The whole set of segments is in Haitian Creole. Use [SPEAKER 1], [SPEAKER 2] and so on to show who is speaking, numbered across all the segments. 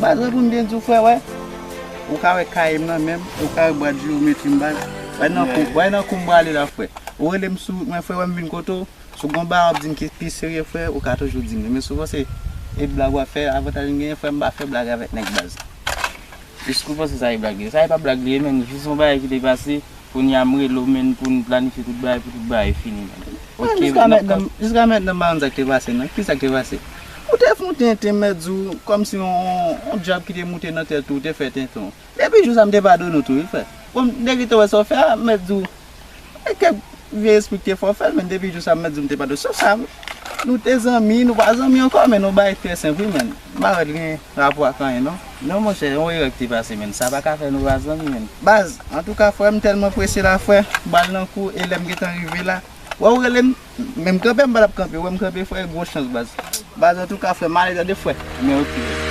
[SPEAKER 1] Baz pou m byen di w frè wè ou ka wè kaye m nan menm e ou ka wè bwat jewometri m baz wè nan kou wè nan kou m prale la frè ou rele m sou mwen frè wè m vin kote w si w gen yon bagay w ap di m ki pi serye frè ou ka toujou di m li men souvan se e blag w ap fè avantaj m genyen frè m pa fè blag avèk nèg baz. Eskew
[SPEAKER 2] panse sa e blag li ye? Sa e pa blag li ye menn jis yon bagay ki te pase Kounye a m rele w menn pou n planifye tout bagay pou tout bagay fini menn. Ok Jiska nap ka. mètnan,
[SPEAKER 1] jiska mètnan m pa konn sa k te pase nan. Kisa k te pase? Ou te fon tenten mèt di w kòmsi yon yon djab ki te moute nan tèt ou, ou te fè tenten w. Depi jou sa m te padone w tou wi frè. Bon dèke w te wè sa w fè a, m mèt di w e kèk vye espri ki te fè w fè l menn depi jou sa m mèt di w m te padone w. Sof sa m te padone w. Nou te zanmi, nou pa zanmi ankò men nou bagay trè senp wi menn. M pa wè l gen rapò ak anyen non. Non monchè yon erè
[SPEAKER 2] ki te pase menn sa paka fè nou pa zanmi menn baz antouka
[SPEAKER 1] frè m tèlman prese la frè bal nan kou e lèm gentan rive la wè ou rele m men m kanpe m pa tap kanpe wè m kanpe frè gwo chans baz baz antouka frè m ale tande frè men ok.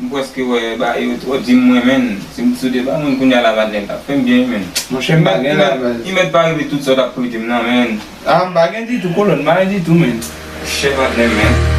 [SPEAKER 3] M preske wè ba yo tro di m renmen n si m t sou de pa moun kounya la madnè tap fè m byen menn Monchè m pa gen la
[SPEAKER 4] baz. Imet pa rive tout
[SPEAKER 3] sa w tap prete m nan menn. Ah m pa gen ditou
[SPEAKER 4] kolòn m pa gen ditou menn. Chè patnè m
[SPEAKER 3] menn.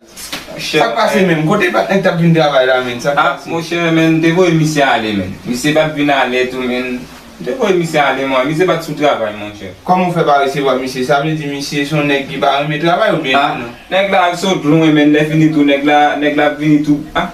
[SPEAKER 4] Sak pase menm? Kote patnè k tap vin travay la menn? Sak pase? Ah monchè menn
[SPEAKER 3] te voye misye ale menn. Misye pat vin alè tou menn. M te voye misye ale mwen. Misye pat sou travay monchè. Kòman ou fè pa resevwa
[SPEAKER 4] misye? Sa vle di misye son nèg ki pa renmen travay oubyen? Ah nèg la sot
[SPEAKER 3] lwen menn lè fini tou nèg la nèg la ap vini tou ah.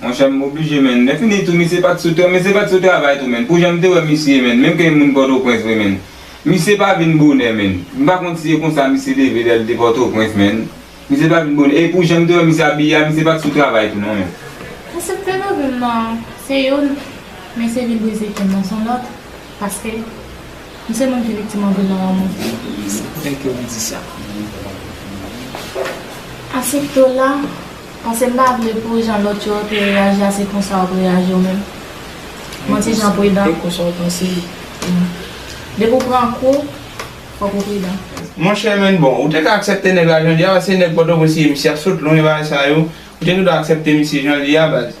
[SPEAKER 3] Monchè m oblije menn. Lèfini tou misye pat sou tè misye pat sou travay tou menn pou janm te wè misye menn menm ke moun pòtoprens vre menn misye pa vin bonè menn m pa konn si e konsa misye leve lèl te pòtoprens menn misye pa vin bonè e pou janm te wè misye abiye a misye pat sou
[SPEAKER 5] travay
[SPEAKER 3] tou non menn. Mwen sot
[SPEAKER 5] fè nan
[SPEAKER 3] vil nan se youn men
[SPEAKER 5] se vil brize kèm nan son lòt paske m se moun ki viktim anpil nan lanmou. Se poutèt ke
[SPEAKER 6] ou di sa.
[SPEAKER 5] Asepte w la. Paske m pa vle pou jan lòt yo te reyaji a se konsa wap reyaji ou menm. Bon ti jan pridan. E konsa w panse
[SPEAKER 6] tou.
[SPEAKER 5] Depi w pran kou, fòk ou pridan. Monchè men bon
[SPEAKER 4] ou te ka aksèpte nèg la jan l ye a baz se nèg pòtoprens li ye misye ap sot lwen bagay sa yo ou te gendwa aksèpte misye jan l ye a baz.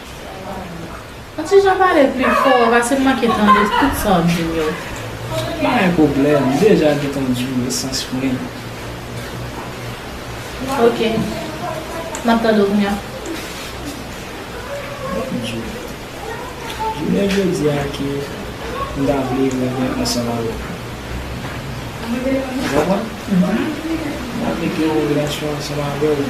[SPEAKER 5] An ti jan pale pli fò wap ase manke tande tout sa wap dim yo. Pa gen
[SPEAKER 6] pwoblèm, m deja gentan di w esans mwen yo.
[SPEAKER 5] Ok. M ap tande w kounya. Bondye.
[SPEAKER 6] Jounen jodi a ke m ta vle renmen ansanm avèk ou. Ou konprann? M ta vle gen yon relasyon ansanm avè w.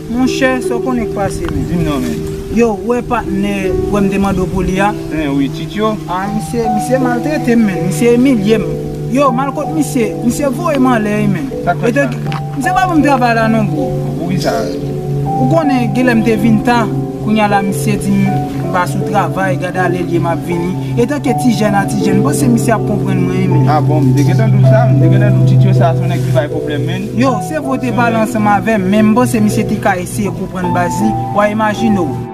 [SPEAKER 4] Monchè sa
[SPEAKER 6] w konnen k pase menm. Dim non menm. Yo
[SPEAKER 4] w wè patnè
[SPEAKER 6] w wè m te mande w pou li a? Hein wi ti tyo.
[SPEAKER 4] Ah misye misye
[SPEAKER 6] maltrete m menn misye imilye m yo mal kot misye misye voye m anlè wi menn Sak fèt la menm. Misye pa ban m travay la non bro. Bon poukisa
[SPEAKER 4] Ou konnen
[SPEAKER 6] genlè m te vin ta kounya la misye di m m pa sou travay gad ale l ye m ap vini etanke ti jèn a ti jèn m panse misye ap konprann mwen wi menn. Ah bon m te gentan di w
[SPEAKER 4] sa m te gentan di w ti tyo sa son nèg ki bay pwoblèm menn. Yo, se vre w te pale
[SPEAKER 6] ansanm avè m, men m panse misye te ka eseye konprann baz li, wa
[SPEAKER 7] imajine
[SPEAKER 1] w.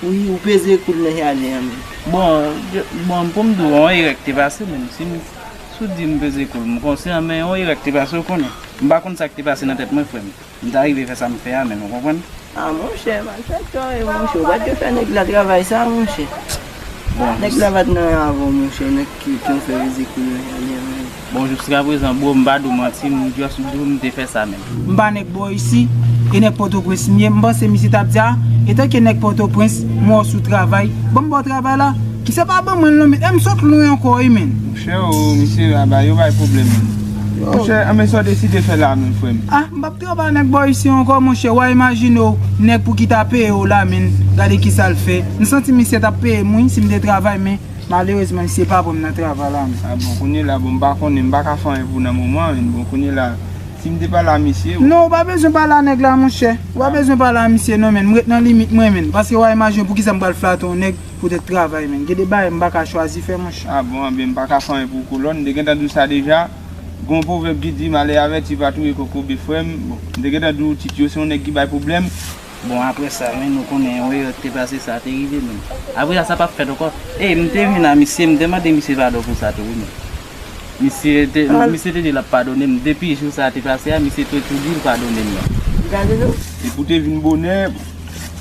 [SPEAKER 1] Wi ou peze kou
[SPEAKER 7] l nan jaden an menm.
[SPEAKER 1] Bon pou m di w yon erè te pase menm si w di m peze kou l m konsyan men yon erè te pase w konnen. M pa konn sa k te pase nan tèt mwen frè m. M ta rive fè sa m fè a menm ou konprann. A monchè
[SPEAKER 7] malfèktè w ye monchè ou pat dwe fè nèg la travay sa monchè. Nèg
[SPEAKER 1] la pat nan yon
[SPEAKER 7] avè w monchè nèg ki w fè peze kou l nan jaden an menm. Bon juska
[SPEAKER 1] prezan bro m pa di w manti m just di w m te fè sa menm. M pa nèg bò isi,
[SPEAKER 6] e nèg pòtoprens m ye, m panse misye tap di a, etanke nèg pòtoprens, m wè w sou travay, banm baw travay la, ki se pa ban mwen l non men, e m sot lwen ankò wi menn. Monchè oo misye
[SPEAKER 4] a bay yo bay pwoblèm menn. Monchè anben sa w deside fè la menm frè m? Ah m pap travay nèg
[SPEAKER 6] bò isi ankò monchè, wa imajine w nèg pou ki ta peye w la menn, gade kisa l fè, m santi misye tap peye m wi si m te travay men. Malerezman misye pa pranm nan travay la m. Ah bon kounye la bon m
[SPEAKER 4] pa konnen m paka fè anyen pou nan moman an bon kounye la sim te pale a misye. Non ou pa bezwen pale a
[SPEAKER 6] nèg la monchè ou pa bezwen pale a misye non menn m ret nan limit mwen menn paske wa imajine w poukisa m pral flate yon nèg poutèt travay menn gen de bagay m paka chwazi fè monchè. Ah bon anben m paka fè
[SPEAKER 4] anyen pou kolòn m te gentan di w sa deja gon pwovèb ki di male avèti pa touye kokobe frè m bon m te gentan di w tityo se yon nèg ki bay pwoblèm. Bon apre
[SPEAKER 1] sa men nou konnen yon erè ki te pase sa te rive menm. Apre sa sa pap fèt ankò. Ey m te vin a misye m te mande misye padon pou sa tou wi menm. Misye te misye te di lap padone m depi jou sa te pase a misye te tou di l padone m nan.
[SPEAKER 7] Depi w te vin
[SPEAKER 4] bonè m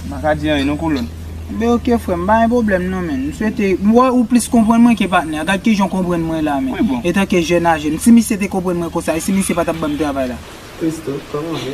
[SPEAKER 4] pa ka di anyen non kolòn. Ebyen ok frè
[SPEAKER 6] m pa gen pwoblèm non men m swete m wè ou plis konprann mwen ke patnè a gad kijan w konprann mwen la men etanke jèn aje
[SPEAKER 4] m si
[SPEAKER 6] misye te konprann mwen konsa e si misye pa tap banm travay la. Christo, kòman
[SPEAKER 7] ou ye?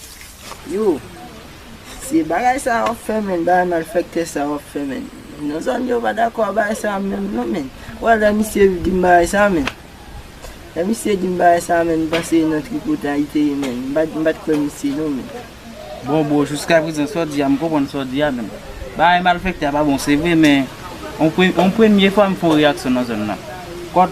[SPEAKER 4] Yo
[SPEAKER 7] Se bagay sa wap fè menn bagay malfèktè sa wap fè menn nan zòn yo pa dakò a bagay sa menm non menn wè lè misye dim bagay sa menn lè misye dim bagay sa menn m panse nan tripotay li te ye menn m pat m pat kwè misye non menn. Bon bro
[SPEAKER 1] jiskaprezan sa w di a m konprann sa w di a menn bagay malfèktè a pa bon se vre men on premye fwa m fon reyaksyon nan zòn nan kòt